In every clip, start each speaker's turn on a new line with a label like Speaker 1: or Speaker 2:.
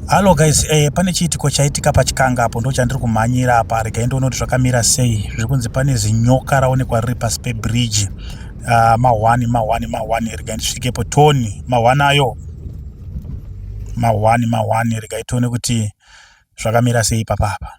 Speaker 1: Hello guys, eh, pane chiitiko chaitika pachikanga apo ndo chandiri kumhanyira apa regai ndoona kuti zvakamira sei zviri kunzi pane zinyoka raonekwa riri pasi pebridge uh, ah, mahwani mahwani mahwani regai ndisvikepo toni mahwani ayo mahwani mahwani regai tione kuti zvakamira sei papapa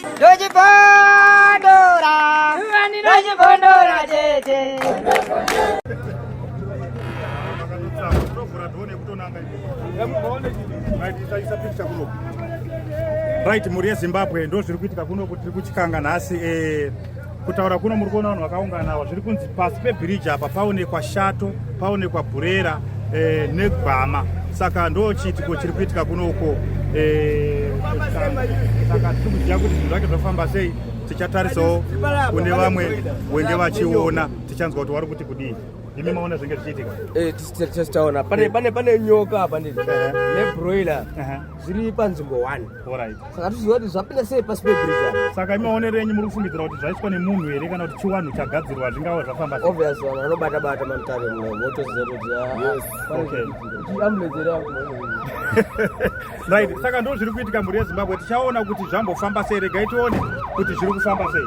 Speaker 2: ndochipondora
Speaker 3: ani ndochipondora tete
Speaker 1: right mhuri yezimbabwe ndozviri kuitika kuno kuti tiri kuchikanga nhasi eh, kutaura kuno muri kuona vanhu vakaungana ava zviri kunzi pasi pebhiriji apa paonekwa shato paonekwa bhurera eh, negwama saka ndo chiitiko chiri kuitika kuno uko eh, saka tiri kuziva kuti zvinhu zvake zvafamba sei tichatarisawo kune vamwe wenge vachiona tichanzwa kuti wari kuti kudii imi maona zvenge zvichiitika eh, tichitaona
Speaker 4: pane nyoka apa ndii nebroiler zviri panzvimbo one saka tiziva
Speaker 1: kuti zvapinda
Speaker 4: sei pasi pebirija saka imaonero enyu muri
Speaker 1: kufungidzira kuti zvaitwa nemunhu here kana kuti chiwanhu chagadzirwa zvingava zvafamba obvious vanhu vanobata bata
Speaker 4: mamutare motoziva kuti ambulensi
Speaker 1: ah, right saka ndo zviri kuitika mhuri yezimbabwe tichaona kuti zvambofamba sei regai tione kuti zviri kufamba sei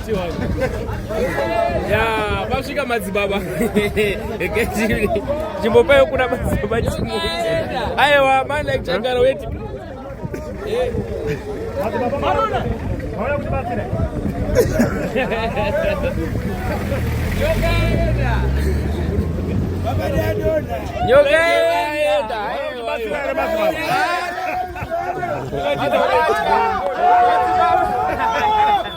Speaker 4: ya pasvika madzibaba chimbopayo kuna madzibaba aiwa mana chagara weti nyokaenda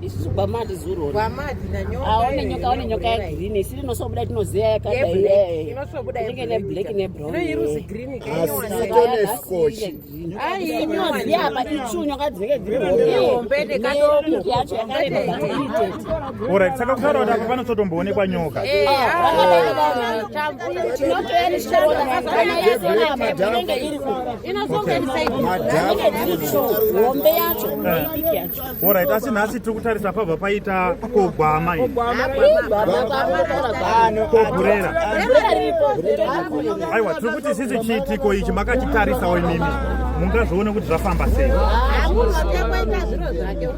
Speaker 5: isusu gwamadi zuro
Speaker 3: aone nyoka aone nyoka yegreen
Speaker 5: isi rinosobuda tinozeya yakadainenge neblack
Speaker 3: nebrowninoziya
Speaker 5: apa ichu nyoka dzinenge dziriyacho
Speaker 3: yakareba
Speaker 1: Alright, saka kutaura kuti apa panototomboonekwa nyoka. Eh, ah, ah,
Speaker 5: Alright, asi nhasi tiri
Speaker 1: kutarisa pabva paita kogwama iyi. Kogurera. Aiwa, tiri kuti sisi chiitiko ichi makachitarisawo imimi. Mungazvione kuti zvafamba sei.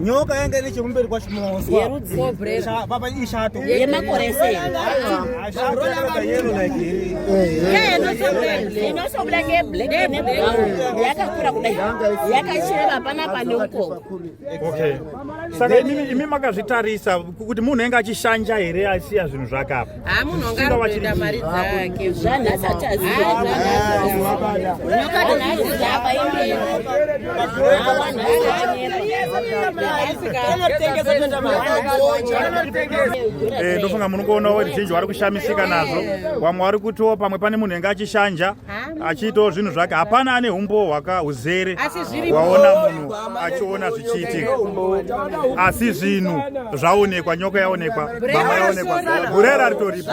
Speaker 4: nyoka yanga ine chekumberi kwacho mumaoswapapa ishato yemakore
Speaker 5: seinosobuda ngeyakakura kudai yakachireva hapana pane ukoko
Speaker 1: saka imi makazvitarisa kuti munhu enge achishanja here asiya zvinhu zvake apa Haa munhu anga
Speaker 3: arikuenda mari dzake
Speaker 5: Zvanhu asati aziva Nyoka dzinhazi dzapa imwe
Speaker 1: ndofunga munokuona veruzhinji vari kushamisika nazvo vamwe vari kutiwo pamwe pane munhu enge achishanja achiitawo zvinhu zvake hapana ane umbowo hwaka uzere waona munhu achiona zvichiitika asi zvinhu zvaonekwa nyoka yaonekwa bama yaonekwa gurera ritoripo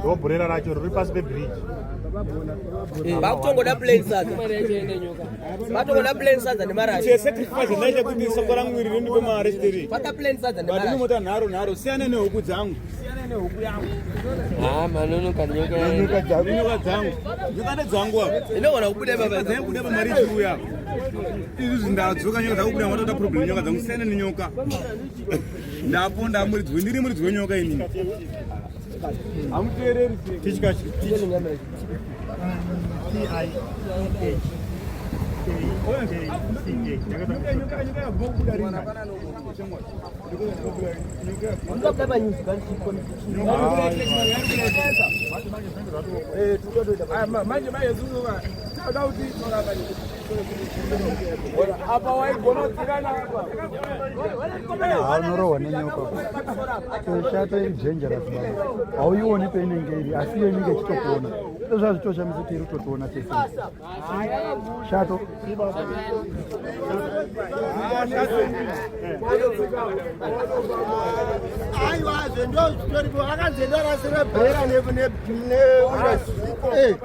Speaker 1: ndoburera racho riri pasi pebridge vakutongoda
Speaker 4: plan sadza vatongoda plan sadza nemarashesacrifice ndaita kuti
Speaker 6: soko rangu iri rindipe mari stiri vata plan sadza but
Speaker 4: inomota nharo nharo siyane
Speaker 6: nehuku dzangu siyane nehuku yangu ah
Speaker 7: manonoka nyoka nyoka dzangu nyoka
Speaker 6: dzangu nyoka ndedzangu apa inogona kubuda baba dzangu
Speaker 4: kuda pamari churu
Speaker 6: yako izvi zvindazoka nyoka dzakubuda matoda problem nyoka dzangu siyane nenyoka ndaponda muridzi ndiri muridzi wenyoka inini hamuteereri tichikachi
Speaker 8: manje manje zuva tauti toramba apa waigona kudzikana apa unorohwa nenyoka toshato iri dangerous baba hauioni peinenge iri asi iyo inenge ichitokuona ndozvazvitoshamisa kuti iri kutotiona tese shato aiwazve ndozvitoripo akanzendorasira bhera neura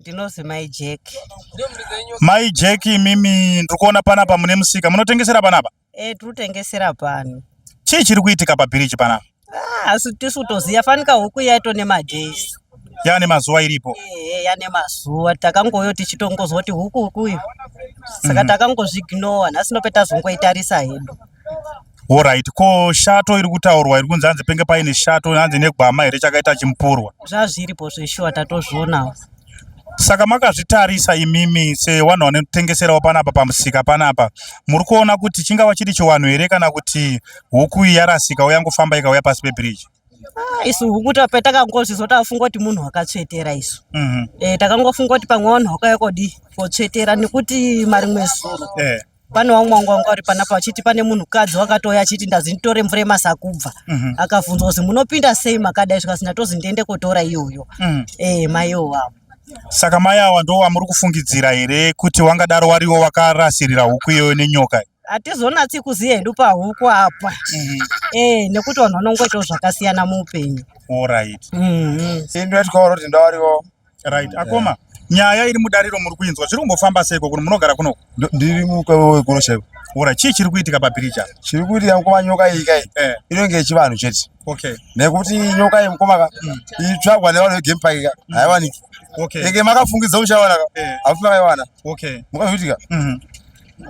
Speaker 3: ndinozi mai jeki mai
Speaker 1: jeki imimi ndiri kuona panapa mune musika munotengesera panapa Eh, tiri kutengesera
Speaker 3: pano. Chii chiri kuitika
Speaker 1: pabhiriji pana? Ah, asi tisu
Speaker 3: kutoziva fanika huku yaito nemadays. Yaa nemazuva
Speaker 1: iripo. Eh, yaa nemazuva
Speaker 3: takangoyo tichitongozwa kuti huku huku iyo. Saka mm. takangozviignowa nhasi nope tazongoitarisa hedu. Alright,
Speaker 1: ko shato iri kutaurwa iri kunzi hanzi penge paine shato hanzi negwama here chakaita chimupurwa? Zvazviripo zveshuwa
Speaker 3: tatozvionawo. Saka
Speaker 1: makazvitarisa imimi sewanhu wanotengeserawo panapa pamusika panapa, muri kuona kuti chingava chiri chiwanhu here kana kuti huku iyi yarasika uya ngofamba ikauya pasi pebiriji? Ah, isu huku
Speaker 3: petakangozvizwa tafunga kuti munhu wakatsvetera isu mm -hmm. e, takangofunga kuti pamwe wanhu wakauya kodi kotsvetera nekuti marimwe zuro e. pane wamwe wangu wanga uri panapa vachiti pane munhukadzi wakatouya achiti ndazi nditore mvura yemasakubva mhm. akabvunzwa kuzi munopinda sei makadai zvikanzi ndatozi ndiende kotora iyoyo mhm. eh, mai iwowawo saka mai
Speaker 1: awa ndo wamuri kufungidzira here kuti wangadaro wariwo wakarasirira huku iyoyo nenyoka hatizonatsi kuziva
Speaker 3: hedu pahuku apa mhm. eh, nekuti vanhu vanongoitawo zvakasiyana muupenyu orit
Speaker 1: indoitwa
Speaker 7: kuti ndawariwo right akoma
Speaker 1: nyaya iri mudariro muri kuinzwa zviri kumbofamba seiko kuno munogara kunoko ndiri mukaoe
Speaker 7: kuno chaiko ora chii chiri kuitika
Speaker 1: pabhiriji apa chiri kuitika mukoma nyoka
Speaker 7: iyi kai eh. inenge yechivanhu chete okay nekuti
Speaker 1: nyoka iyi
Speaker 7: mukoma ka mm. itsvagwa nevanhu vegame park ka mm. haiwaniki okay enge
Speaker 1: makafungidza muchawana
Speaker 7: ka eh. hafuti makaiwana okay mukazviitika
Speaker 1: mm-hmm.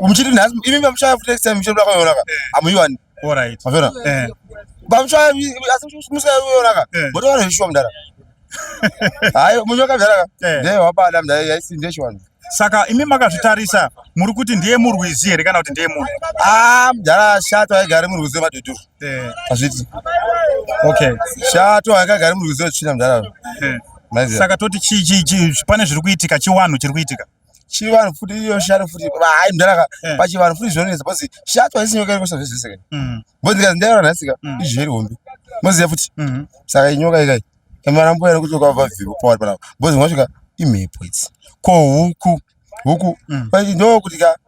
Speaker 7: muchiti nhasi imi mamuchaya futi next time muchiti makaionaka eh. hamuiwani Alright. Mafera.
Speaker 1: Eh.
Speaker 7: Bamshwa asimusa yona ka. Eh. Bodo wana hishwa mdara. Hayo munyoka mdara ka. Eh. Ndiye wabada mdara yaisinde shwana. Saka imi
Speaker 1: makazvitarisa muri kuti ndiye murwizi here kana kuti ndiye munhu? Ah, mdara
Speaker 7: shato aigare murwizi maduduru. Eh. Azviti.
Speaker 1: Okay. Shato
Speaker 7: aigare murwizi china mdara. Eh. Saka
Speaker 1: toti chi chi chi pane zviri kuitika chiwanhu chiri kuitika. chivanhu futi
Speaker 7: iyo shari futi hayi mdara eh. pachivanhu futi zvinonetsa bcause shato haisi nyoka iri kusava zvese kani mm. bcause ndikazi ndairona nhasi ka mm. izvi zviri hombe moziva futi mm-hmm. saka inyoka ikai emarambo yari kuti ukava vavhivo pawari panapa bcause unosvika imhepo idzi ko huku
Speaker 1: huku mm. ndo kuti
Speaker 7: ka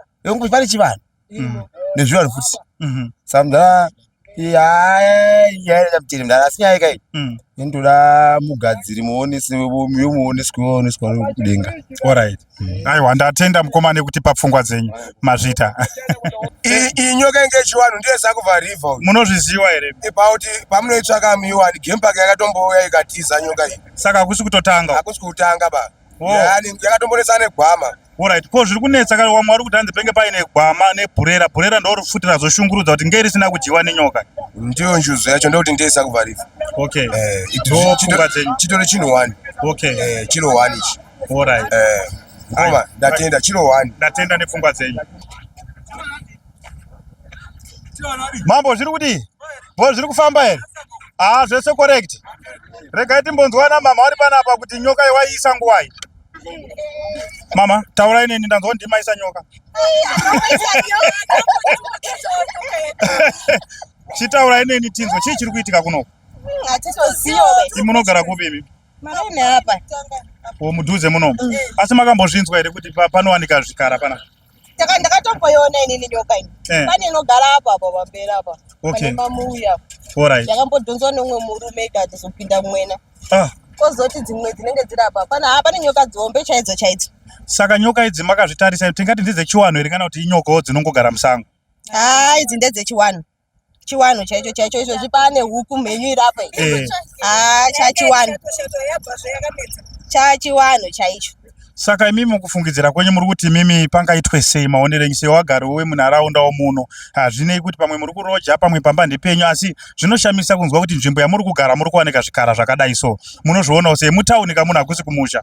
Speaker 7: pane chivanhu mm. nezvivanhu futi mm-hmm. samdhaa yayaamutiri mdara asi nyaya ikai mm. indoda mugadziri muonesi yomuonesi kuoneswa kudenga orit mm.
Speaker 1: aiwa ndatenda mukoma nekuti papfungwa dzenyu mazvita
Speaker 7: iyi nyoka inge chiwanhu ndiye zakuvhariva munozviziva here
Speaker 1: about pamunoitsvaka
Speaker 7: miwani game park yakatombouya ikatiza nyoka iyi saka hakusi kutotanga
Speaker 1: hakusi kutanga ba
Speaker 7: yakatomboretsa negwama orit ko zviri
Speaker 1: kunetsa kare wamwe wari kuti hanzi penge paine gwama nebhurera bhurera ndorifutira zvoshungurudza kuti ngei risina kudyiwa nenyoka ndiyo njuzu
Speaker 7: yacho ndokuti ndeisa kuvharifa okay eh,
Speaker 1: ndopfungwa
Speaker 7: dzenyu chitori chinhu one okay eh, chiro
Speaker 1: one ichi
Speaker 7: orit
Speaker 1: eh,
Speaker 7: ndatenda chiro one ndatenda nepfungwa dzenyu
Speaker 1: Mambo zviri kudii? Bho zviri kufamba here? Ah, zvese correct. Regai timbonzwana mama vari panapa kuti nyoka yewaiisa nguvai. Mama, taurai neni ndanzwa ndimaisa nyoka. Chitaurai neni tinzwe chii chiri kuitika kunoku?
Speaker 3: Munogara
Speaker 1: kupi imi?
Speaker 3: Mudhuze
Speaker 1: munomu. Mm. Asi makambozvinzwa here kuti panowanika zvikara panapa? taka ndakatomboiona
Speaker 3: inini nyoka ini eh. pane inogara apa apa pamberi apa pane mamuuya alright yakambodhonzwa
Speaker 1: neumwe
Speaker 3: murume ikatozopinda mwena ah kozoti dzimwe dzinenge dziri apa pana ha pane nyoka dzihombe chaidzo chaidzo saka nyoka
Speaker 1: idzi makazvitarisa tingati ndedzechiwanhu here kana kuti inyokawo dzinongogara musango haa idzi
Speaker 3: ndedzechiwanhu chiwanhu chaicho chaicho izvo zvipane huku mhenyu irapo eh. ah, chachiwanhu chachiwanhu chaicho saka imimi
Speaker 1: mukufungidzira kwenyu muri kuti imimi pangaitwe sei maonero enyu sewagari wemunharaunda womuno hazvinei kuti pamwe muri kuroja pamwe pamba ndepenyu asi zvinoshamisa kunzwa kuti nzvimbo yamuri kugara muri kuwanika zvikara zvakadai so munozvionawo sei mutauni kamunhu hakusi kumusha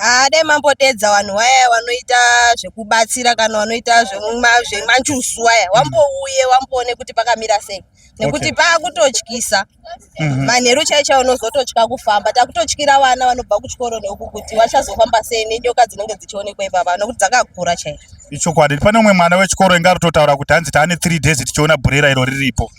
Speaker 1: Ah, dai
Speaker 3: mambodeedza vanhu waya vanoita zvekubatsira kana vanoita zvema- zvemanjusu waya wambouye wamboone kuti pakamira sei nekuti Okay. paakutotyisa Mhm. manheru chai chai unozototya kufamba takutotyira vana vanobva kuchikoro neuku kuti vachazofamba sei nenyoka dzinenge dzichionekwa ipapa nokuti dzakakura chaizvo ichokwadi pane umwe
Speaker 1: mwana wechikoro inga aritotaura kuti hanzi taane three days tichiona bhurera iro riripo